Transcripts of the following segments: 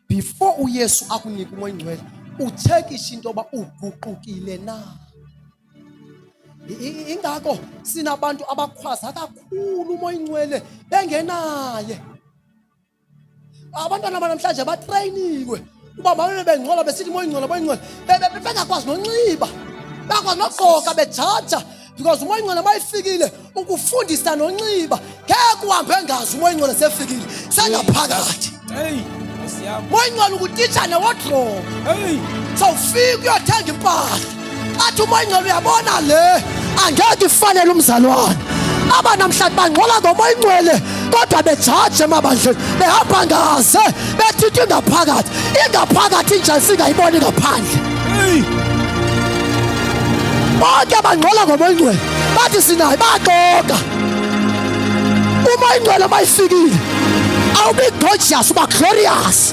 before uyesu akunika umoya ingcwele utshekishe into yoba uguqukile na ingako sinabantu abakhwaza kakhulu umoya ingcwele bengenaye abantwana banamhlanje batreyiniwe uba mabebe bengcola besithi moya ingcola moya ingcola bengakwazi nonxiba bakwazi nogqoka bejaja because umoya ingcwele mayifikile ukufundisa nonxiba ngeke uhambe engazi umoya ingcwele sefikile sengaphakathi moya ingcwele ukutitsha newodrobo sawufika uyothenga impahla athi umoya ingcwele uyabona le angeke ifanele umzalwane aba namhlanje bangcola ngomoya ingcwele kodwa bejaje emabandleni behamba ngaze bethinta ingaphakathi ingaphakathi injani singayiboni ngaphandle bonke bangcola ngomoyingcwele bathi sinaye baxoka umoyingcwele uma ifikile awubi gorgeous uba glorious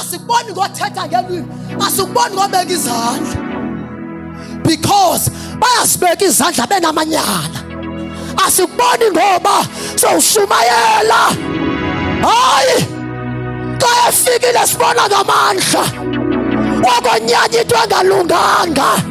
asikuboni ngothetha ngelwimi asikuboni ngobeka izandla because bayasibeka izandla benamanyala asikuboni ngoba sowushumayela hayi xa efikile sibona ngamandla wakonyanya into engalunganga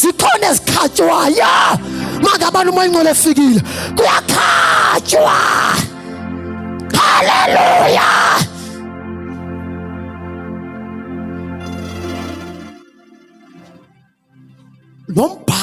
zikhona ezikhatywayo makabani umoya ingcwele efikile kuyakhatywa haleluya nombha